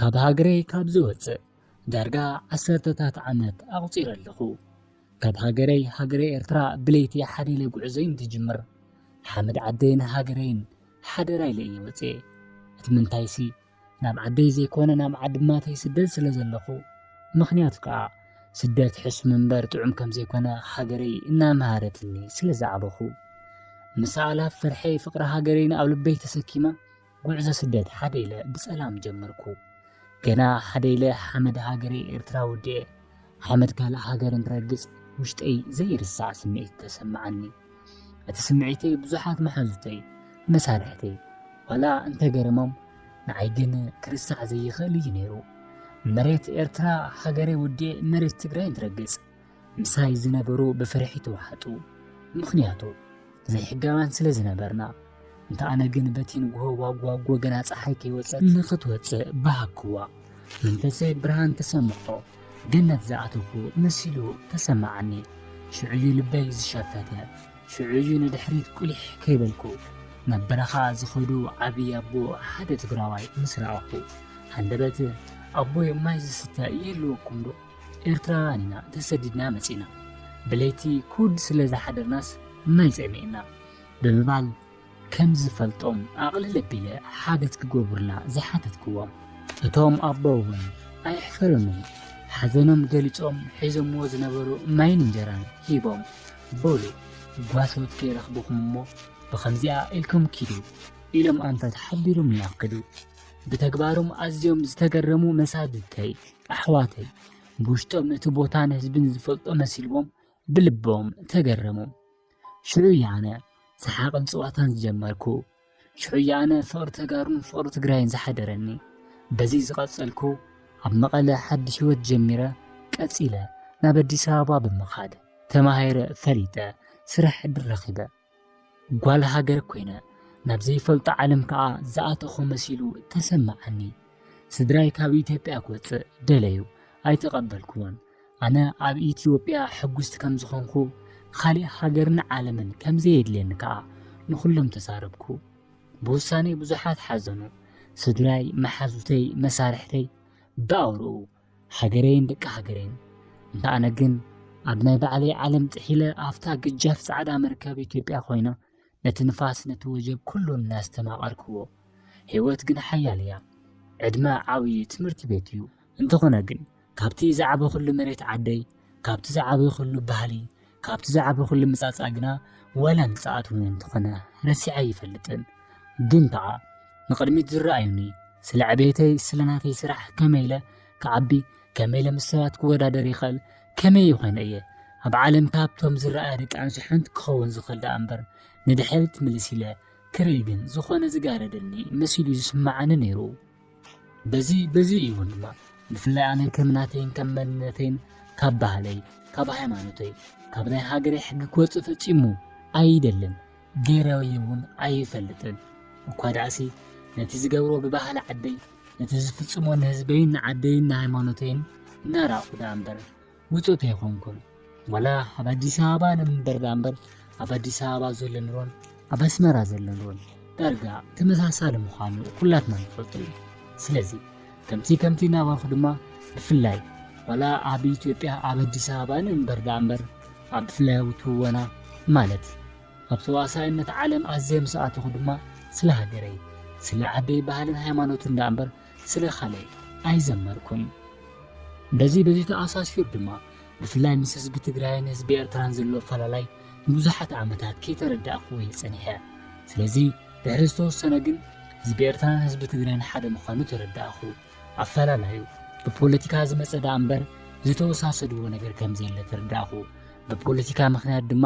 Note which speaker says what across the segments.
Speaker 1: ካብ ሃገረይ ካብ ዝወጽእ ዳርጋ ዓሰርተታት ዓመት ኣቑጺረ ኣለኹ። ካብ ሃገረይ ሃገረ ኤርትራ ብለይቲ ሓደ ኢለ ጉዕዞይ እንትጅምር ሓመድ ዓደይን ሃገረይን ሓደራ ኢለ እየ ወጽኤ። እቲ ምንታይሲ ናብ ዓደይ ዘይኮነ ናብ ዓዲ ማተይ ስደት ስለ ዘለኹ ምኽንያቱ ከዓ ስደት ሕሱም እምበር ጥዑም ከም ዘይኮነ ሃገረይ እናመሃረትኒ ስለ ዝዓበኹ ምስ ኣእላፍ ፍርሐይ ፍቕሪ ሃገረይን ኣብ ልበይ ተሰኪመ ጉዕዞ ስደት ሓደ ኢለ ብሰላም ጀመርኩ። ገና ሓደ ኢለ ሓመድ ሃገረይ ኤርትራ ወዲኤ ሓመድ ካልእ ሃገር እንትረግጽ ውሽጠይ ዘይርሳዕ ስምዒት ተሰማዓኒ። እቲ ስምዒተይ ብዙሓት መሓዙተይ፣ መሳርሕተይ፣ ዋላ እንተገረሞም ንዓይ ግን ክርሳዕ ዘይኽእል እዩ ነይሩ። መሬት ኤርትራ ሃገረይ ወዲኤ መሬት ትግራይ እንትረግጽ ምሳይ ዝነበሩ ብፍርሒ ተዋሕጡ፣ ምኽንያቱ ዘይሕጋውያን ስለ ዝነበርና። እንተ ኣነ ግን በቲ ንግሆ ዋጓጎ ገና ፀሓይ ከይወፀት ንኽትወፅእ በሃግኩዋ። መንፈሰይ ብርሃን ተሰምዖ፣ ገነት ዝኣተኹ መሲሉ ተሰማዓኒ። ሽዑ'ዩ ልበይ ዝሸፈተ፣ ሽዑ'ዩ ንድሕሪት ቁሊሕ ከይበልኩ ናብ በረኻ ዝኸዱ ዓብዪ ኣቦ ሓደ ትግራዋይ ምስ ረኣኹ፣ ሃንደበት ኣቦይ ማይ ዝስተ ይህልወኩምዶ? ኤርትራውያን ኢና ተሰዲድና መጺእና፣ ብለይቲ ኩድ ስለ ዝሓደርናስ ማይ ጸሚእና ብምባል ከም ዝፈልጦም ኣቕልል ኣቢለ ሓገዝ ክገብሩልና ዝሓተትክዎም፣ እቶም ኣቦ'ውን ኣየሕፈሩንን ሓዘኖም ገሊጾም ሒዞምዎ ዝነበሩ ማይን እንጀራን ሂቦም በሉ ጓሶት ከይረኽቡኩም'ሞ ብኸምዚኣ ኢልኩም ኪዱ ኢሎም ኣንፈት ሓቢሮምና ከዱ። ብተግባሮም ኣዝዮም ዝተገረሙ መሳድድተይ፣ ኣሕዋተይ ብውሽጦም እቲ ቦታን ህዝብን ዝፈልጦ መሲልዎም ብልቦም ተገረሙ። ሽዑ እየ ኣነ ሰሓቕን ፀዋታን ዝጀመርኩ። ሽዑ እየ ኣነ ፍቕሪ ተጋሩን ፍቕሪ ትግራይን ዝሓደረኒ። በዚ ዝቐፀልኩ ኣብ መቐለ ሓድሽ ህይወት ጀሚረ ቀፂለ ናብ ኣዲስ ኣበባ ብምኻድ ተማሂረ ፈሊጠ ስራሕ ዕድል ረኺበ። ጓል ሃገር ኮይነ ናብ ዘይፈልጦ ዓለም ከዓ ዝኣተኹ መሲሉ ተሰማዓኒ። ስድራይ ካብ ኢትዮጵያ ክወፅእ ደለዩ፣ ኣይተቐበልኩዎን። ኣነ ኣብ ኢትዮጵያ ሕጉስቲ ከም ዝኾንኩ ኻሊእ ሃገርን ዓለምን ከም ዘየድልየኒ ከዓ ንኹሎም ተዛረብኩ። ብውሳኔ ብዙሓት ሓዘኑ። ስድራይ፣ መሓዙተይ፣ መሳርሕተይ ብኣውርኡ ሃገረይን ደቂ ሃገረይን እንተ ኣነ ግን ኣብ ናይ ባዕለይ ዓለም ጥሒለ ኣብታ ግጃፍ ጻዕዳ መርከብ ኢትዮጵያ ኮይና ነቲ ንፋስ ነቲ ወጀብ ኩሉ እናስተማቐርክዎ ህይወት ግን ሓያል እያ ዕድመ ዓብዪ ትምህርቲ ቤት እዩ እንተኾነ ግን ካብቲ ዝዓበኹሉ መሬት ዓደይ ካብቲ ዝዓበኹሉ ባህሊ ካብቲ ዝዓበኹሉ ምጻጻ ግና ዋላ ምጽኣት እውን እንተኾነ ረሲዐ ኣይፈልጥን ግን ከዓ ንቕድሚት ዝረኣዩኒ ስለ ዕቤተይ ስለ ናተይ ስራሕ ከመይ ኢለ ክዓቢ ከመይ ኢለ ምስ ሰባት ክወዳደር ይኽእል ከመይ ይኾነ እየ ኣብ ዓለም ካብቶም ዝረኣያ ደቂ ኣንስትዮ ሓንቲ ክኸውን ዝኽእል ደኣ እምበር ንድሕሪት ምልስ ኢለ ክርኢ ግን ዝኾነ ዝጋረደኒ መሲሉ ዝስምዓኒ ነይሩ በዚ በዚ እዩ እውን ድማ ብፍላይ ኣነ ከም ናተይን ከም መንነተይን ካብ ባህለይ ካብ ሃይማኖተይ ካብ ናይ ሃገረይ ሕጊ ክወፅእ ፈፂሙ ኣይደልን ገይረ እውን ኣይፈልጥን እኳ ዳእሲ ነቲ ዝገብሮ ብባህሊ ዓደይ ነቲ ዝፍፅሞ ንህዝበይን ንዓደይን ንሃይማኖተይን እናራእኹ ዳኣ እምበር ውፁት ኣይኮንኩን ዋላ ኣብ ኣዲስ ኣበባ ንምበር ዳምበር ኣብ ኣዲስ ኣበባ ዘሎ ኑሮን ኣብ ኣስመራ ዘሎ ኑሮን ዳርጋ ተመሳሳሊ ምዃኑ ኩላትና ንፈልጡ እዩ ስለዚ ከምቲ ከምቲ እናበልኩ ድማ ብፍላይ ዋላ ኣብ ኢትዮጵያ ኣብ ኣዲስ ኣበባ ንእምበር ዳኣ እምበር ኣብ ብፍላያዊ ትወና ማለት ኣብ ተዋሳኢነት ዓለም ኣዝየ ምስ ኣተኹ ድማ ስለ ሃገረይ ስለ ዓደይ ባህልን ሃይማኖትን ዳኣ እምበር ስለ ካልእ ኣይዘመርኩን። በዚ በዚ ተኣሳሲሩ ድማ ብፍላይ ምስ ህዝቢ ትግራይን ህዝቢ ኤርትራን ዘሎ ኣፈላላይ ንብዙሓት ዓመታት ከይተረዳእኩዎ እየ ጸኒሐ። ስለዚ ድሕሪ ዝተወሰነ ግን ህዝቢ ኤርትራን ህዝቢ ትግራይን ሓደ ምዃኑ ተረዳእኹ። ኣፈላላዩ ብፖለቲካ ዝመጸ ደኣ እምበር ዝተወሳሰድዎ ነገር ከም ዘየለ ተረዳእኹ። ብፖለቲካ ምኽንያት ድማ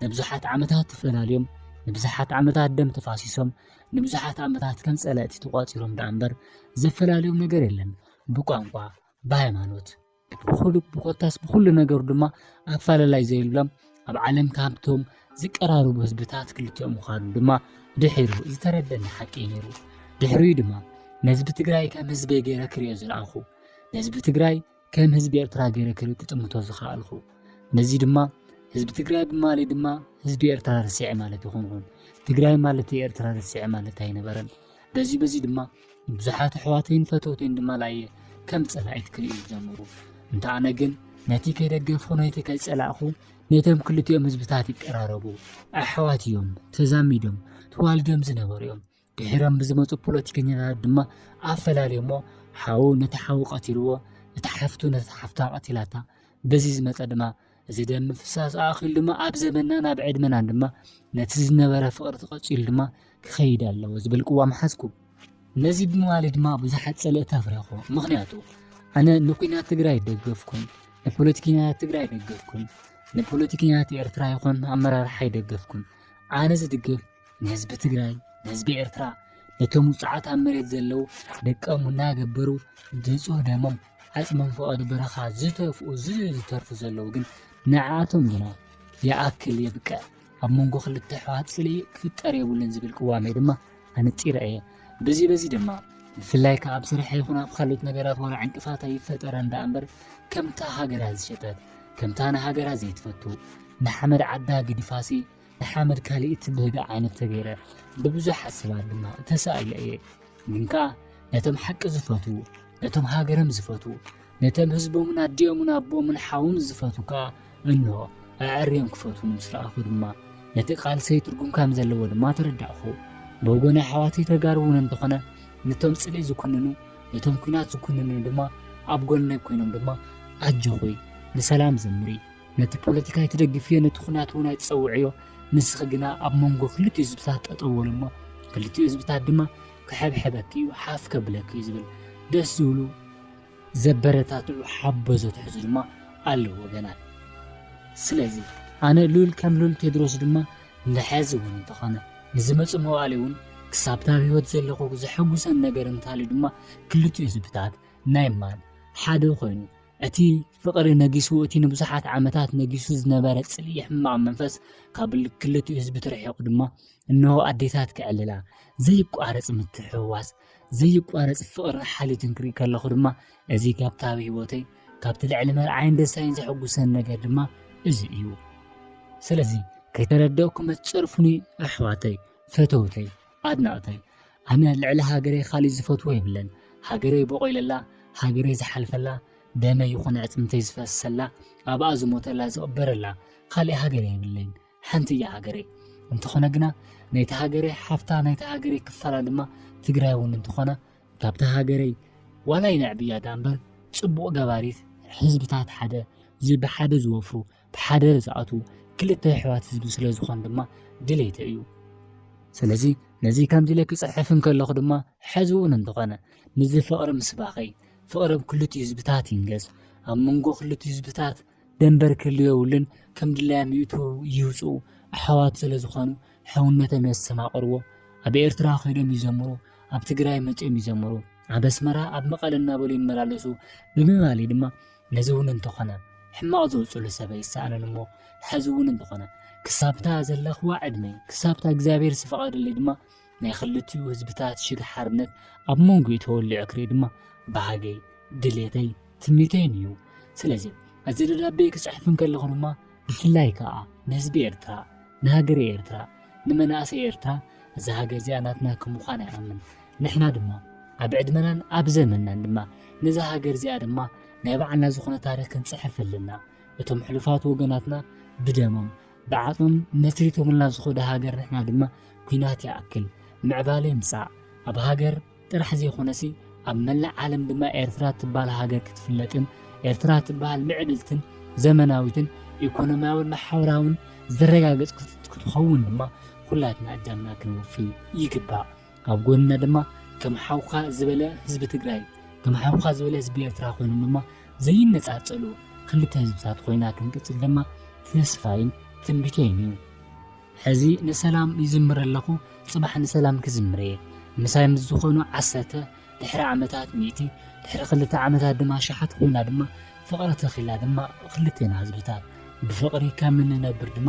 Speaker 1: ንብዙሓት ዓመታት ተፈላልዮም ንብዙሓት ዓመታት ደም ተፋሲሶም ንብዙሓት ዓመታት ከም ጸላእቲ ተቋጺሮም ደኣ እምበር ዘፈላልዮም ነገር የለን። ብቋንቋ፣ ብሃይማኖት፣ ብኹሉ ብኮታስ ብኹሉ ነገሩ ድማ ኣፈላላይ ዘይብሎም ኣብ ዓለም ካብቶም ዝቀራረቡ ህዝብታት ክልቲኦም ምዃኑ ድማ ድሒሩ ዝተረደኒ ሓቂ እዩ ነይሩ። ድሕሪኡ ድማ ንህዝቢ ትግራይ ከም ህዝቢ ገይረ ክሪኦ ዝረኣኹ ንህዝቢ ትግራይ ከም ህዝቢ ኤርትራ ገይረ ክጥምቶ ዝኸኣልኩ ነዚ ድማ ህዝቢ ትግራይ ብማሊ ድማ ህዝቢ ኤርትራ ርስዐ ማለት ይኹንኹን ትግራይ ማለት ኤርትራ ርስዐ ማለት ኣይነበረን በዚ በዚ ድማ ብዙሓት ኣሕዋተይን ፈተውተይን ድማ ላየ ከም ጸላኢት ክርእዩ ጀመሩ እንተ ኣነ ግን ነቲ ከይደገፍኹ ነቲ ከይጸላእኹ ነቶም ክልቲኦም ህዝብታት ይቀራረቡ ኣሕዋት እዮም ተዛሚዶም ተዋልዶም ዝነበሩ እዮም ድሒሮም ብዝመፁ ፖለቲከኛታት ድማ ኣፈላልዮሞ ሓው ነቲ ሓው ቀቲልዎ እታ ሓፍቱ ነታ ሓፍታ ቀቲላታ በዚ ዝመፀ ድማ እዚ ደም ምፍሳስ ኣኺሉ ድማ ኣብ ዘበናን ኣብ ዕድመናን ድማ ነቲ ዝነበረ ፍቕሪ ተቐፂሉ ድማ ክኸይድ ኣለዎ ዝብል ቅዋም ሓዝኩ ነዚ ብምባለ ድማ ብዙሓት ፀለእቲ ኣፍረኹ ምክንያቱ ኣነ ንኩናት ትግራይ ደገፍኩን ንፖለቲከኛታት ትግራይ ደገፍኩን ንፖለቲከኛታት ኤርትራ ይኹን ኣመራርሓ ይደገፍኩን ኣነ ዝድግፍ ንህዝቢ ትግራይ ንህዝቢ ኤርትራ ነቶም ውፅዓት ኣብ መሬት ዘለዉ ደቀም እናገበሩ ንፁህ ደሞም ዓፅሞም ፍቐዱ በረኻ ዝተፍኡ ዝተርፉ ዘለዉ ግን ንዓቶም ግና ይኣክል የብቅዕ ኣብ መንጎ ክልተ ኣሕዋት ፅልኢ ክፍጠር የብሉን ዝብል ቅዋሜ ድማ ኣነፂረ እየ በዚ በዚ ድማ ብፍላይ ከዓ ኣብ ስራሕ ይኹን ኣብ ካልኦት ነገራት ዋላ ዕንቅፋት ኣይፈጠረ እንዳ እምበር ከምታ ሃገራ ዝሸጠት ከምታ ንሃገራ ዘይትፈቱ ንሓመድ ዓዳ ግድፋሲ ሓመድ ካልእ እትብህጋ ዓይነት ተገይረ ብብዙሓት ሰባት ድማ ተሳእለ እየ ግን ከዓ ነቶም ሓቂ ዝፈትዉ ነቶም ሃገርም ዝፈትዉ ነቶም ህዝቦምን ኣዲኦምን ኣቦምን ሓውን ዝፈትዉ ከዓ እንሆ ኣዐርዮም ክፈትዉ ምስ ረኣኹ ድማ ነቲ ቃልሰይ ትርጉም ከም ዘለዎ ድማ ተረዳእኹ ብወገን ኣሕዋተይ ተጋሩ እውን እንተኾነ ነቶም ፅልኢ ዝኩንኑ ነቶም ኩናት ዝኩንኑ ድማ ኣብ ጎነይ ኮይኖም ድማ ኣጆኹይ ንሰላም ዘምሪ ነቲ ፖለቲካ ኣይትደግፍዮ ነቲ ኩናት እውን ኣይትፀውዕዮ ንስኺ ግና ኣብ መንጎ ክልቲኡ ህዝብታት ጠጠው በሉ እሞ ክልቲኡ ህዝብታት ድማ ክሕብሕበኪ እዩ ሓፍ ከብለኪ እዩ ዝብል ደስ ዝብሉ ዘበረታትዑ ሓበዞ ትሕዙ ድማ ኣለዎ ወገናት ስለዚ ኣነ ሉል ከም ሉል ቴድሮስ ድማ ንሐዚ እውን እንተኾነ ንዝመፁ መዋእሊ እውን ክሳብታ ኣብ ህይወት ዘለኹ ዘሐጉሰን ነገር እንታልዩ ድማ ክልቲኡ ህዝብታት ናይ ማን ሓደ ኮይኑ እቲ ፍቕሪ ነጊሱ እቲ ንብዙሓት ዓመታት ነጊሱ ዝነበረ ጽልኢ ሕማቕ መንፈስ ካብ ክልቲኡ ህዝቢ ተርሒቑ ድማ እነሆ ኣዴታት ክዕልላ ዘይቋረጽ ምትሕውዋስ ዘይቋረጽ ፍቕርን ሓልዮትን ክርኢ ከለኹ ድማ እዚ ካብታ ኣብ ህይወተይ ካብቲ ልዕሊ መርዓይን ደሳይን ዘሐጉሰን ነገር ድማ እዚ እዩ ስለዚ ከይተረደእኩ መትጸርፉኒ ኣሕዋተይ ፈተውተይ ኣድነቅተይ ኣነ ልዕሊ ሃገረይ ካሊእ ዝፈትዎ የብለን ሃገረይ ቦቂለላ ሃገረይ ዝሓልፈላ ደመይ ይኹን ኣዕፅምተይ ዝፈሰላ ኣብኣ ዝሞተላ ዝቅበረላ ካሊእ ሃገር የብለይን ሓንቲ እያ ሃገረይ እንተኾነ ግና ናይቲ ሃገረይ ሓፍታ ናይቲ ሃገረይ ክፋላ ድማ ትግራይ እውን እንተኾነ ካብታ ሃገረይ ዋላ ይነዕብያ ዳኣ እምበር ፅቡቅ ገባሪት ህዝብታት ሓደ ዝብሓደ ዝወፍሩ ብሓደ ዝኣትዉ ክልተ የሕዋት ህዝቢ ስለ ዝኾኑ ድማ ድሌተይ እዩ። ስለዚ ነዚ ከምዚ ኢለ ክጽሕፍ እንከለኹ ድማ ሕዚ'ውን እንተኾነ ምስዚ ፍቕሪ ምስባኸይ ፍቕሪ ኣብ ክልቲኡ ህዝብታት ይንገስ፣ ኣብ መንጎ ክልቲኡ ህዝብታት ደንበር ክህሉ የብሉን፣ ከም ድላዮም ይእትዉ ይውጽኡ ኣሕዋት ስለ ዝኾኑ ሕውነቶም የስተማቕርዎ፣ ኣብ ኤርትራ ከይዶም ይዘምሩ፣ ኣብ ትግራይ መጺኦም ይዘምሩ፣ ኣብ ኣስመራ ኣብ መቐለ እናበሉ ይመላለሱ ብምባል'ዩ ድማ ነዚ እውን እንተኾነ ሕማቕ ዘውፅሉ ሰብ ኣይሰኣንን እሞ ሐዚ እውን እንተኾነ ክሳብታ ዘለኽዋ ዕድመ ክሳብታ እግዚኣብሔር ዝፈቐደለይ ድማ ናይ ክልቲኡ ህዝብታት ሽግ ሓርነት ኣብ መንጎ ተወሊዑ ክርኢ ድማ ባህገይ ድሌተይ ትምኒተይን እዩ ስለዚ እዚ ደብዳቤ ክፅሕፍ እንከለኹ ድማ ብፍላይ ከኣ ንህዝቢ ኤርትራ ንሃገረ ኤርትራ ንመናእሰይ ኤርትራ እዛ ሃገር እዚኣ ናትና ከም ምዃና ይኣምን ንሕና ድማ ኣብ ዕድመናን ኣብ ዘመንናን ድማ ነዛ ሃገር እዚኣ ድማ ናይ ባዕልና ዝኾነ ታሪኽ ክንጽሕፍ ኣለና እቶም ሕሉፋት ወገናትና ብደሞም ብዓጽሞም መስሪቶምልና ዝኾደ ሃገር ንሕና ድማ ኲናት ይኣክል ምዕባለ ይምጻእ ኣብ ሃገር ጥራሕ ዘይኮነሲ ኣብ መላእ ዓለም ድማ ኤርትራ ትባል ሃገር ክትፍለጥን ኤርትራ ትባሃል ምዕብልትን ዘመናዊትን ኢኮኖሚያውን ማሕበራውን ዘረጋገጽክት ክትኸውን ድማ ኩላትና እጃምና ክንወፊ ይግባእ። ኣብ ጎንና ድማ ከም ሓውካ ዝበለ ህዝቢ ትግራይ ከም ሓውካ ዝበለ ህዝቢ ኤርትራ ኮይኑ ድማ ዘይነጻጸሉ ክልተ ህዝብታት ኮይና ክንቅጽል ድማ ተስፋይን ትንቢተይን እዩ። ሕዚ ንሰላም ይዝምር ኣለኹ ጽባሕ ንሰላም ክዝምር እየ ምሳይ ምስ ዝኾኑ ዓሰርተ ድሕሪ ዓመታት ሚእቲ ድሕሪ ክልተ ዓመታት ድማ ሸሓት ኮይና ድማ ፍቕሪ ተኺላ ድማ ክልቴና ህዝብታት ብፍቕሪ ከም እንነብር ድማ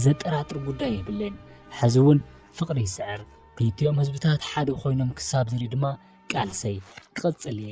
Speaker 1: ዘጠራጥር ጉዳይ የብለይን ሕዚ እውን ፍቕሪ ይስዕር ክልቲኦም ህዝብታት ሓደ ኮይኖም ክሳብ ዝርኢ ድማ ቃልሰይ ክቕጽል እየ